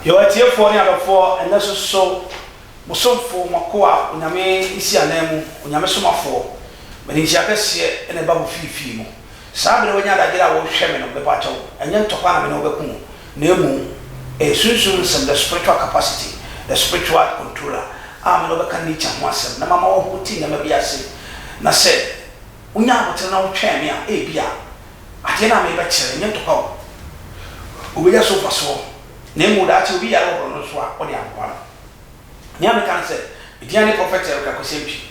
Yɛwɔ atiefoɔ ne adɔfoɔ ɛnnɛ nso so bosomfoɔ mo akoa Onyame nsiananmu Onyame somafoɔ Mede nhyira kɛseɛ na ɛba mo fiifii mu. Saa bere a wanya adagyer a wɔrehwɛ me no, mepaakyɛw, ɛnyɛ ntɔkwa na me ne wo bɛko mu, na mmom ɛyɛ sunsum nsɛm, the spiritual capacity, the spiritual controller, a me ne wo bɛka nature ho asɛm na mama woahu te nneɛma bi ase. Na sɛ wonyaa abotere na wotwɛn me a, ebia adeɛ no a merebɛkyerɛ no nyɛ ntɔkwa o. Wobɛnya so mfasoɔ, na mmom daakye obi yare wɔ borɔno so a, wode aboa no. Nea meka ne sɛ, edin ara ne Prɔfɛt Eric Akwesempie.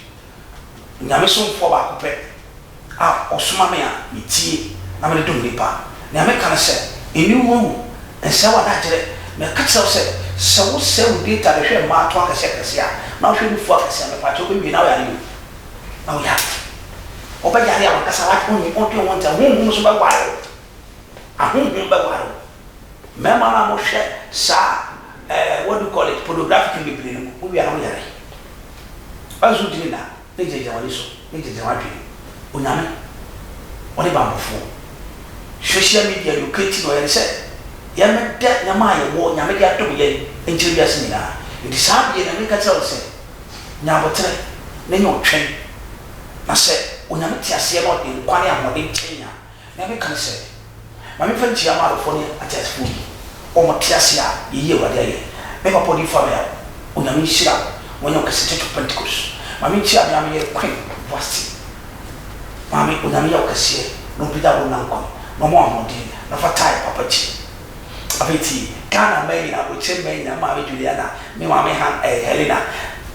Onyame somfoɔ baako pɛ a ɔsoma me a metie na mede dom nnipa. Nea meka ne sɛ, nni wo ho awu, nsɛe w'adagyerɛ. Meka kyerɛ wo sɛ, sɛ wosɛe wo data de hwɛ mmarato akɛseɛ akɛseɛ a, na wohwɛ nufoɔ akɛseɛ a, mepa kyɛw, wobɛwie na woyare o. Na woyare. Wobɛyare a w'ankasa w'adwene, wonte wo ho nte, honhom nso bɛware wo. Ahonhom bɛware wo. Mmarima no a mohwɛ saa eh, what do you call it, pornographic no bebree no, mowie a na moyare. Bible so gyina na ne gyinagyina w'ani so, ne gyinagyina w'adwene mu. Onyame, ɔne banbɔfoɔ. Social media deɛ ɔkati na ɔyɛ ne sɛ, yɛmmɛda nneɛma a yɛwɔ, Nyame de adom yɛn, nkyerɛ wiase nyinaa. Enti saa adeɛ no, meka kyerɛ wo sɛ, nya aboterɛ na nya ɔtwɛn. Na sɛ Onyame te aseɛ na ɔde nkwa ne ahoɔden kyɛn a, Nyame kae sɛ, Ma memfa nkyia Amarofoɔ ne Ateasefoɔ yi, wɔn te ase a yɛyi Awurade ayɛ. Me papa Ɔdiyifo Amayao, Onyame nhyira wo, wɔnyɛ wo kɛse Church of Pentecost. Ma menkyia me a meyɛ Queen Vasti maame, Onyame yɛ wo kɛseɛ na ɔmpagya wo nna nkwa mu na ɔma wo ahoɔden na fa tae papa akyi. Afei tie Ghana mmaa nyinaa, abrokyire mmaa nyinaa, me maame Juliana, me maame Han eh Helena,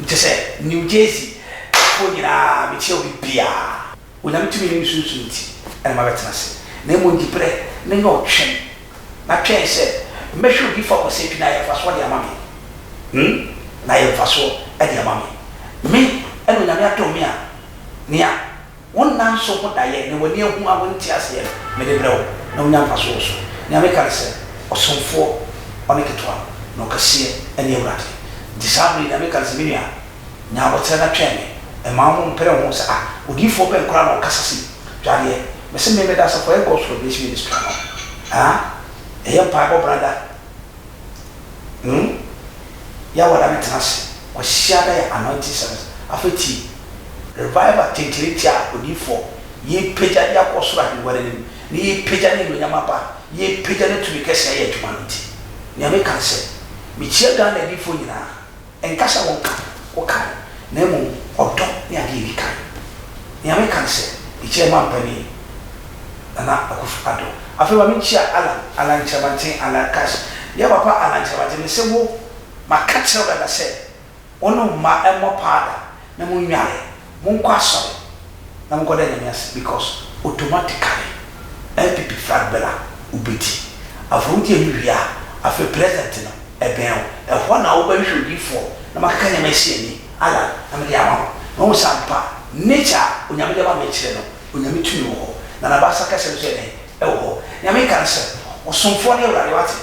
kyɛ sɛ New Jersey foɔ nyinaa mekyia obi biara. Onyame tumi ne ne sunsum nti na mabɛtena ase, na mmom di berɛ na nya ɔtwɛn, na twɛn sɛ mɛhwɛ odiyifoɔ akwasia bi na ayɛ mfasoɔ de ama me, hmm, na ayɛ mfasoɔ de ama me. Me na Onyame adom me a, nea wo nna nso ho daeɛ, nea w'ani ahu a wonte aseɛ no, mede brɛ wo, na wonya mfasoɔ wɔ so. Nea meka ne sɛ, Ɔsomfoɔ, ɔne ketewa, na ɔkɛseɛ ne Awurade. Nti saa berɛ yi, nea meka ne sɛ, me nua, Nea ɔkyerɛ na twɛn me. Mma wo ho mpere wo ho sɛ, 'Ah, odiyifoɔ bɛn koraa na ɔkasa sei? Hwɛ adeɛ, mese me meda ase, kɔyɛ God's Revelation Ministry ano. Haa? Ɛyɛ mpaebɔ brada. Hmm? Yɛ wada me tena ase. Kwasiada yɛ Anointing Service. Afei tie. Revival tenterentia a odiyifoɔ, yɛrepagya de akɔ ɔsoro ahengua no anim, na yɛrepagya n'anuonyam aba, yɛrepagya ne tumi kɛseɛ ayɛ adwuma no nti. Nea meka ne sɛ, mekyia Ghana adiyifoɔ nyinaa. Ɛnka sɛ wɔnka wo kan, na mmom ɔdɔ ne adeɛ a ɛdi kan. Nea meka ne sɛ, mekyia Mampani Nana Akuffo Addo. Afei ma menkyia Allan, Allan Kyeremanteng, Allan Cash. Dear Papa Allan Kyeremanteng, mese wo, maka kyerɛ wo dada sɛ, wo ne wo mma mmɔ paa da. na mo nnware, mo nkɔ asɔre na mo nkɔda Nyame ase because automatically NPP flag bɛla wo bɛti. Afei wo di ɛno wie a afei president no ɛbɛn wo, ɛhɔ na wo bɛhwehwɛ odiyifoɔ na mo akeka nneɛma asi ani, Allah na mede ama wo na wahu sɛ ampa nature a Onyame de ama me akyire no Onyame tumi wɔ hɔ na Nabasa kɛsɛ no nso yɛ dɛn? Ɛwɔ hɔ. Nea meka ne sɛ, Ɔsomfoɔ no yɛ Awurade, wate?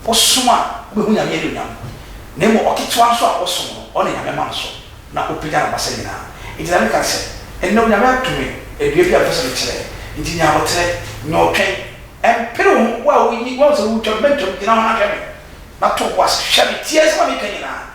Ɔsom a wobehu Nyame anuonyam, na mmom ɔketewa nso a ɔsom no, ɔne Nyame ma no so, na opagya n'abasa nyinaa. Enti na meka sɛ, Ɛnnɛ Onyame ato me adua bi a mepɛ sɛ mekyerɛ, enti nya aboterɛ, nya ɔtwɛn, mpere wo ho, wo a woahu sɛ woretwam, mɛntwam, gyina hɔ na hwɛ me, na to wo bo ase, hwɛ me, tie asɛm a mereka nyinaa.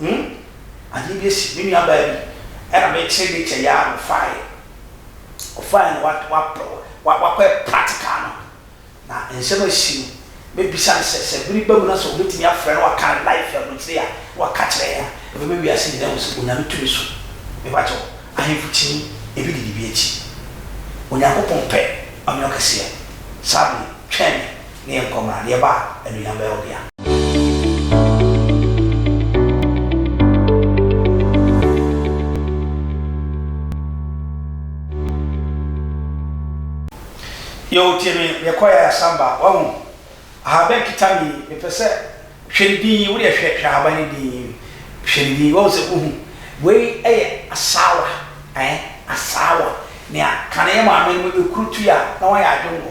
Hum, ade bi asi me nua baa bi, ɛna me kyere de kyɛ yɛ ara na ɔfaaɛ, ɔfaaɛ na wa wa wa wakɔ yɛ practical no, na nsɛm asi no, me bisa no sɛ, sɛ bere ba mu na sɛ ɔbɛtumi afrɛ na waka ne life abrokyire a, na waka kyerɛ yɛn a, ɛbɛma wiase nyinaa ahu sɛ Onyame tumi so. Me pa kyɛw, ahemfo kyini, ebi didi bi akyi. Onyankopɔn pɛ, ɔnyɛ ɔkɛseɛ. Saa bere, twɛn me, ne yɛn nkɔ mmra, deɛ ɛba a, anuonyam bɛyɛ ɔbea. Yoo tie me deɛ kɔɛ a san ba wahu ahaban kita me yi mepɛ sɛ hwɛ ne din yi wodeɛ hwɛ hwɛ ahaban ne din yi hwɛ ne din wahu sɛ wohu wei ɛyɛ asaawa ɛɛ asaawa nea kane yɛ maame no ɛkuru tui a na wayɛ adwongo.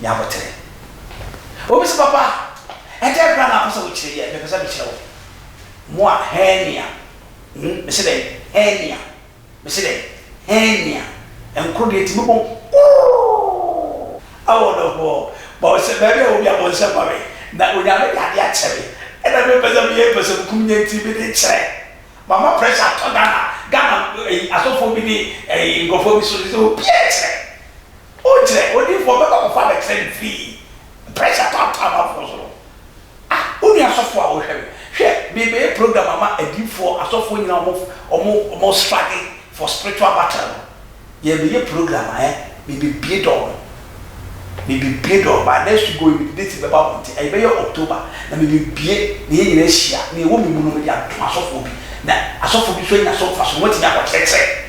ne abotire. Obi se, Papa, ɛdeɛn koraa na wopɛ sɛ wokyerɛ yi a, mepɛ sɛ mekyerɛ wo. Mo a, hernia, hmm, mese dɛn? Hernia, mese dɛn? Hernia, nkoro deɛ ɛtumi bom kurroo. Awɔ no hɔ, bɔnsɛ, baabi a ɛwɔ biara bɔnsɛ ma me, na Onyame de adeɛ akyɛ me, ɛna mempɛ sɛ meyɛ mpɛsɛmkum nyɛ nti mede rekyerɛ. Mama pressure atɔ Ghana, Ghana, ɛyi, asɔfoɔ bi ne, ɛyi, nkorɔfoɔ bi so, sɛ obiara kyerɛ. O kyerɛ odiyifoɔ ɔbɛ kɔ kɔfa abɛkyerɛ no frii pressure taataa amanfoɔ so no ah wo nua sɔfoɔ a wo hwɛ me hwɛ me bɛyɛ program ama adiyifoɔ asɔfoɔ nyina ɔmo ɔmo ɔmo struggle for spiritual battle no yɛ bɛyɛ program a eh me bɛ bie door no me bɛ bie door by next week go yi mede date bɛba mo nti ɛyɛ bɛyɛ October na me bɛ bie na yɛ nyina ahyia na yɛ wɔ me mu no me de ato asɔfoɔ bi na asɔfoɔ bi nso anya so mfaso na wɔatumi akɔ kyerɛkyerɛ.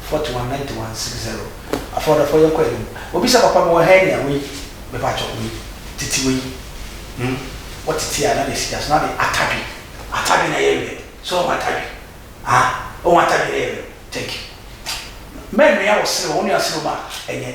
Forty one ninety one six zero Afɔdɔfoɔ yɛn kɔ anim Obisa papa me wɔ hernia wei Me pakyɛ wei titi wei hmm Wɔ titi a na me si gya so na me atadwi Atadwi na yɛ werɛ so ohu atadwi ah Ohu atadwi na yɛ werɛ thank you Mɛ noa wɔ serɛ wɔ nua serɛ mu a ɛnyɛ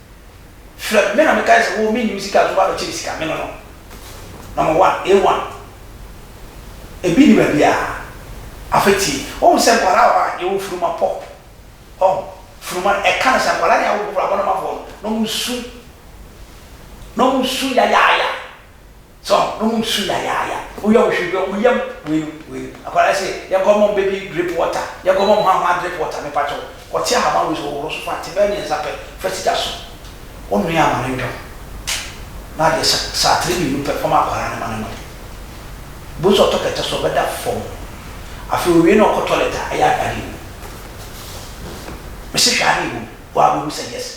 frɛ me, me na me kae sɛ wo me nnim sika nti woba bɛkyɛ me sika, me no no, number one, A one, ebi nni baabiara, afei tie, wohu sɛ nkwadaa wɔ hɔ a yɛwɔ funuma pop, ɔho, funuma no ɛka no sɛ nkwadaa ne awofoɔ, abɔnemafoɔ no, na wɔn su, na wɔn su yayaaya, So na ɔmo su yayaaya. Woyɛ wo hwee bi, ɔmo yam weinom, weinom. Akwadaa yi se, yɛnkɔ mma ɔmo baby drip water, yɛnkɔ mma ɔmo hwahwaa drip water, mepa kyɛw. Kɔte ahaban wei so, hohoro so fa, te bɛyɛ mmiɛnsa pɛ, fa si gya so. Wo noa ma no ndwom. Na adeɛ sa, saa tre mmienu pɛ, fa ma akwadaa no ma no nom. Bohu sɛ ɔtɔ kɛtɛ so, ɔbɛda fɔm. Afei owie na ɔkɔ toilet a, ɛyɛ a na adeɛ wom. Me se hwɛ adeɛ wom, woa bɛhu sɛ yes.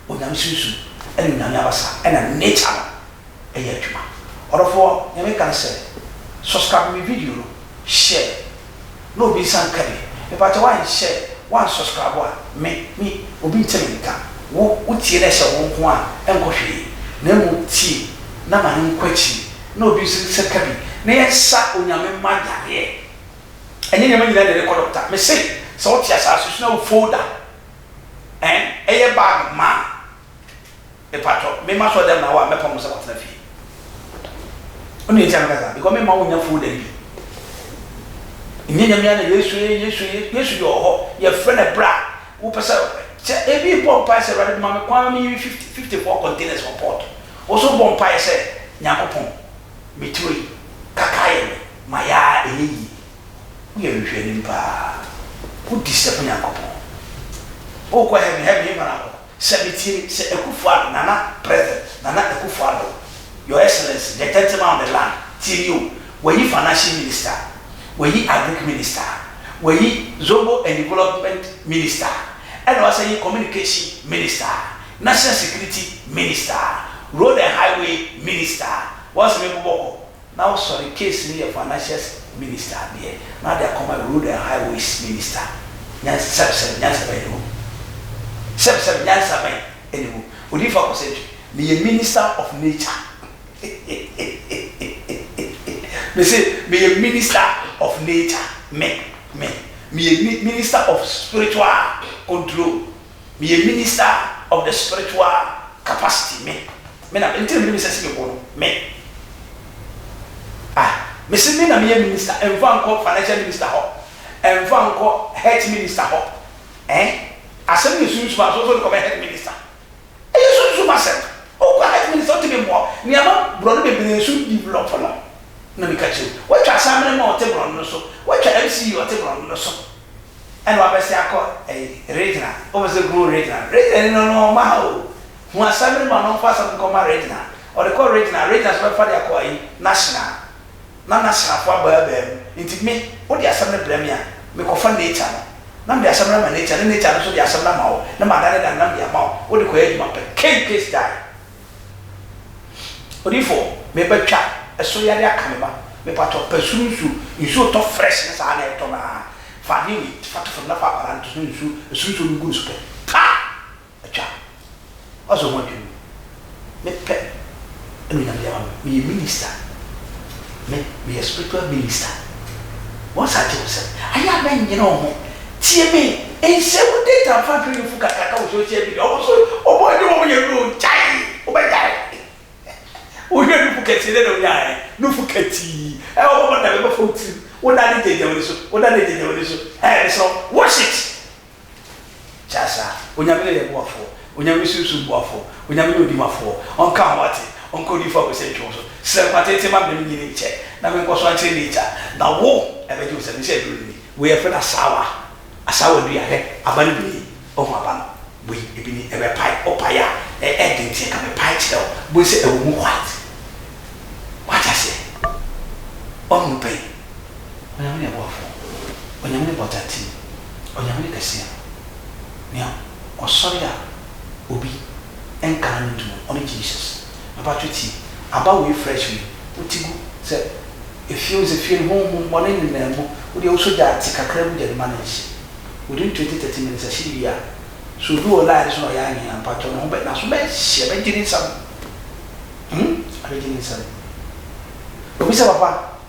Onyame sunsum ɛne Onyame abasa ɛna ne nature no ɛyɛ adwuma. Ɔdɔfoɔ Nyame ka nsɛ subscribe me video no share na obi nsa nka bi. Mepakyɛ woan share woan subscribe a me me obi nte me nka. Wo wo tie na ɛhyɛ wo nko a ɛnkɔ hwee na mmom tie na ma no nkɔ akyiri na obi nso nsa ka bi na yɛnsa Onyame mma yareɛ. Ɛnyɛ nneɛma nyinaa na yɛde kɔ doctor. Mese sɛ wote asaase so na wo folder. Ɛn ɛyɛ bag ma a mepatwɔ mema sɔ dɛm na wo a mɛpam wo sɛ kɔtena fie wo nua nti a meka saa because memma wo nya folder yi bi nyɛ nyame a na yesu ye yesu ye yesu deɛ ɔhɔ yɛfrɛ no ɛberɛ a wopɛ sɛ sɛ ebi bɔ mpae sɛ awurade ma me kwan ma meyi 50 54 containers wɔ port wo so bɔ mpae sɛ nyankopɔn meturo yi kaka yɛ me ma yɛ a ɛnyɛ yie Woyɛ nhwehwɛnim paa. Wodi sɛ Onyankopɔn. Wokɔ heaven, heaven yɛ hwan ahɔ? Sɛ metie me, Sir Akuffo Addo, Nana President, Nana Akuffo Addo, Your Excellency, the gentleman of the land, tie me o, wɔayi Financial Minister, wɔayi Agric Minister, wɔayi Zongo and Development Minister, ɛna wɔasan ayi Communication Minister, National Security Minister, Road and Highway Minister, wɔn se me bobɔ kɔ, Na ɔsɔre case no yɛ financials minister deɛ na ade akɔma road and highways minister nyansa sɛbsɛb nyansa bɛn na ɛwɔ mu sɛbsɛb nyansa bɛn na ɛwɔ mu odiyifo akɔsɛntwi meyɛ minister of nature hehehehehehe mese meyɛ minister of nature me me meyɛ mi minister of spiritual control Meyɛ minister of the spiritual capacity me me na nti na mede me sɛ si me bo no me ah mese me na meyɛ minister ɛnfa nkɔ financial minister hɔ ɛnfa nkɔ health minister hɔ eh asɛm yɛ sunsum a so so de kɔbɛ health minister ɛyɛ sunsum asɛm wokɔ health minister wotumi mmoa nneɛma borɔno bebree so develop no na meka kyerɛ mu woatwa asamene ma ɔte borɔno no so woatwa MCE ɔte borɔno no so ɛna wabɛsɛ akɔ ɛyi Regina wopɛ sɛ ɔkunu Regina Regina ni no no ɔma ha o hu asɛm no ma no mfa asɛm no nkɔ ma Regina ɔde kɔ Regina Regina nso bɛfa de akɔ ɛyi Nashina na Nashina fo aba abaa mu nti me wode asɛm no brɛ me a me kɔ fa Nature no na mede asɛm no ama Nature na Nature no nso de asɛm no ama wo na ma dane dane na mede ama wo wode kɔ yɛ adwuma pɛ kei case die. Odifo meba twa ɛsoro yade aka me ba mepatɔ pɛ soro nsu nsu otɔ fresh ne saa na ɛtɔ no aa fa adeɛ wei fa to fam na fa akwadaa no to so na nsu ɛsoro nsuo no gu ne so pɛ pa atwa w'asɛ ho adwiri me me pɛ ɛna onyame de ama me meyɛ minister. Me meyɛ spiritual minister wɔn saa te wo sɛ ayɛ a mɛ nyere wo ho tie me nhyɛ wo data mfa nhwɛ yufo kakraka wɔ social media ɔmo so ɔmo ɛne wɔn yɛ aduro gyae wo bɛ gyae wo hwɛ nufu kɛseɛ dɛ na onya ayɛ nufu katii ɛ ɔbɛbɔ dame bɛfɔ wo tirim wo da ne gyagya wani so wo da ne gyagya wani so ɛ mesrɛ wo wash it. Kyɛ asa, Onyame ne yɛ boafoɔ, Onyame ne sunsum boafoɔ, Onyame ne odi mafoɔ, Ɔnka ho ate, Ɔnka odiyifoɔ a w'ase ntwe wo so, Srɛ nkwa tenten ma me, menyi ne nkyɛ, na menkɔ so ankyerɛ n'agya, na wo, ɛbɛgye wo sɛ, mese aduro no ni. Wei yɛfrɛ no asaawa, asaawa dua, hwɛ, aba no bi nie, woahu aba no, wei, ebi ni, ɛbɛpae, wopae a, ɛ, ɛden nti ɛka mepae kyerɛ wo, bohu sɛ ɛwɔ mu white, woate aseɛ, woahunu pɛn. Onyame ne Bɔfo, Onyame ne Bɔdate, Onyame ne Kɛseɛ no, nea ɔsɔre a obi nka n'ano ntom no, ɔne Jesus. Mepaatwo tie, aba wei fresh wei, wo ti gu sɛ efie wo sɛ fie no honhom bɔne nenam mu, wo deɛ wo sɔ gyaa te kakra gu gya no ma no nhye. Within twenty thirty minutes ahyede bi a, sɛ obi wɔ line no so na ɔyɛ anwee a, mpaatwo ne ho bɛ, n'aso bɛ hye, ɛbɛ gye ne nsam, hmm, ɛbɛ gye ne nsam. Obi sɛ papa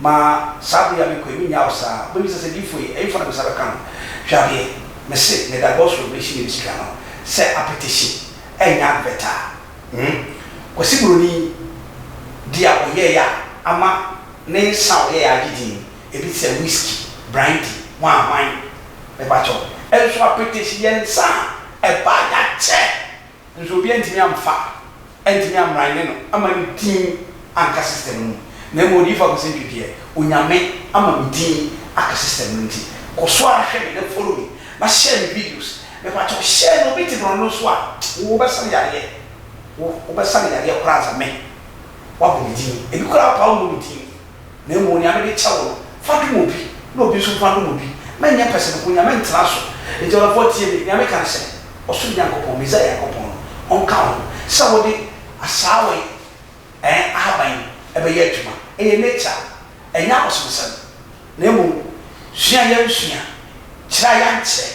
Ma saa bere yi a mekɔ yi minnya wo saa. Wobebisa sɛ, 'Diyifo yi, ɛhefa na me nsa bɛka no? Hwɛ adeɛ, mese, meda God's Revelation Ministry ano sɛ apɛtɛsi ɛnyɛ advert a hmm Kwasi Buroni de a ɔyɛeɛ a ama ne nsa a ɔyɛeɛ agye din, ebi te sɛ whisky, brandy, hwan hwan. Mepakyɛw, nso apɛtɛsi yɛ nsa a ɛba a yɛakyɛ. Nso obi antumi amfa, antumi ammran ne no amma ne din anka system no mu, na mmom Odiyifo Akosantwi deɛ, Onyame ama me din aka system no nti, kɔ so ara hwɛ me na follow me, na share me videos, mepakyɛw share no, obi te borɔno no so a, wo wo bɛsa no yareɛ, wo wo bɛsa no yareɛ koraa ansa me, wabɔ me din, ebi koraa paa ɔmmɔ me din. Na mmom nea mede kyɛ wo no, fa dom obi, na obi nso mfa ndom obi. Mɛnyɛ pɛsɛmenkominya, mɛntena so. Enti ɔdɔfoɔ, tie me. Nea meka ne sɛ, Ɔsoro Nyankopɔn, Mesia Nyankopɔn no, ɔnka wo ho sɛ wode asaawa yi eh, ahaban yi bɛyɛ adwuma. Ɛyɛ nature. Ɛnyɛ abosomsɛm. Na mmom, sua a yɛansua, kyerɛ a yɛankyerɛ.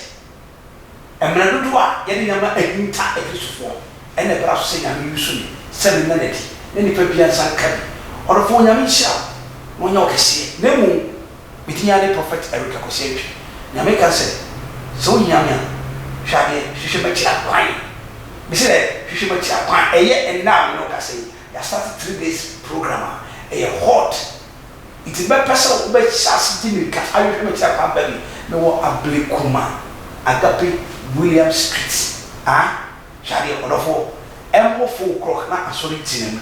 Mmerɛ dodoɔ a yɛde nneɛma ahinta Akristofoɔ na ɛbra so sɛ Nyame resu me sɛ menna no adi na nipa biara nsa nka bi. Ɔdɔfoɔ Onyame nhyira wo na ɔnyɛ wo kɛseɛ na mmom me din ara ne Prophet Eric Akwasi Antwi. Nyame ka sɛ sɛ wo hia me a hwɛ adeɛ hwehwɛ m'akyi akwan. Me se dɛ hwehwɛ m'akyi akwan. Ɛyɛ ɛnnɛ a me ne wo kasa yi yɛ astate three days program a ɛyɛ hot. Enti mɛpɛ sɛ wobɛhyɛ ase de mmirika ahwehwɛ me kyerɛ kwan baabi. Mewɔ Ablekuma, Agape, William Street. Ha, hwɛ adeɛ, ɔdɔfoɔ, ɛmmɔ four o'clock na asɔre ti no mu.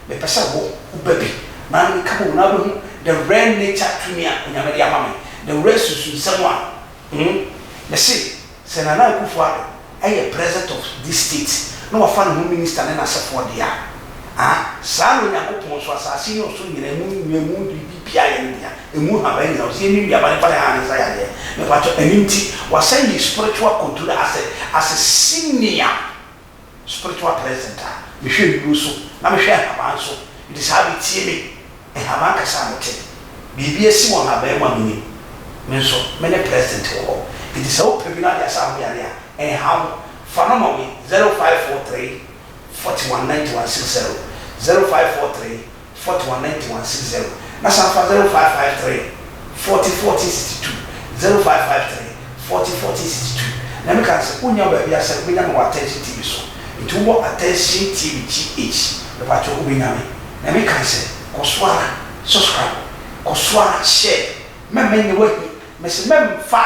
Mepɛ sɛ wo, woba bi, na ne nka bom na wobɛhu the rare nature tumi a Onyame de ama me, the rare sunsunsɛm a, hmm, mese, Sɛ Nana Akuffo Addo yɛ Presdent of this state na wafa ne ho Minister ne n'asefoɔ deɛ a, ah, saa na Onyankopɔn nso, asaase ne ɔsoro nyinaa, emu nnua, emu biribi biara yɛ ne dea, emu nhaban nyinaa, ɔse yɛnni nnuaba ne fa ne han ne nsa yadeɛ, mepatwɔ, ɛno nti, wasɛn his spiritual controller as a, as a senior. Spiritual president a, mehwɛ nnuro so na mehwɛ nhaban nso, nti saa bi tie me, nhaban kasa a mete, biribi asi wɔ nhaban mu a menim, me nso me ne president wɔ hɔ, nti sɛ wopɛ bi na wode asa ho yareɛ a, ɛnha wo, fa no ma me, zero five four three, forty one, ninety one, six zero, zero five four three. Forty one ninety one six zero na san fa zero five five three forty fourteen sixty two zero five five three forty fourteen sixty two na me ka no sɛ wonya wo baabi a sɛ wobɛnya me wɔ attention tv so nti wobɔ attention tv GH mepakyɛw wobɛnya me na me ka sɛ kɔ so ara subscribe kɔ so ara share mɛmma nyɛ woahi me se mɛmfa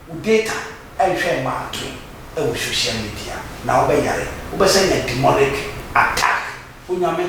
wo data nhwɛ mma ntoe wɔ social media na wobɛyare wobɛsan nya demonic attack Onyame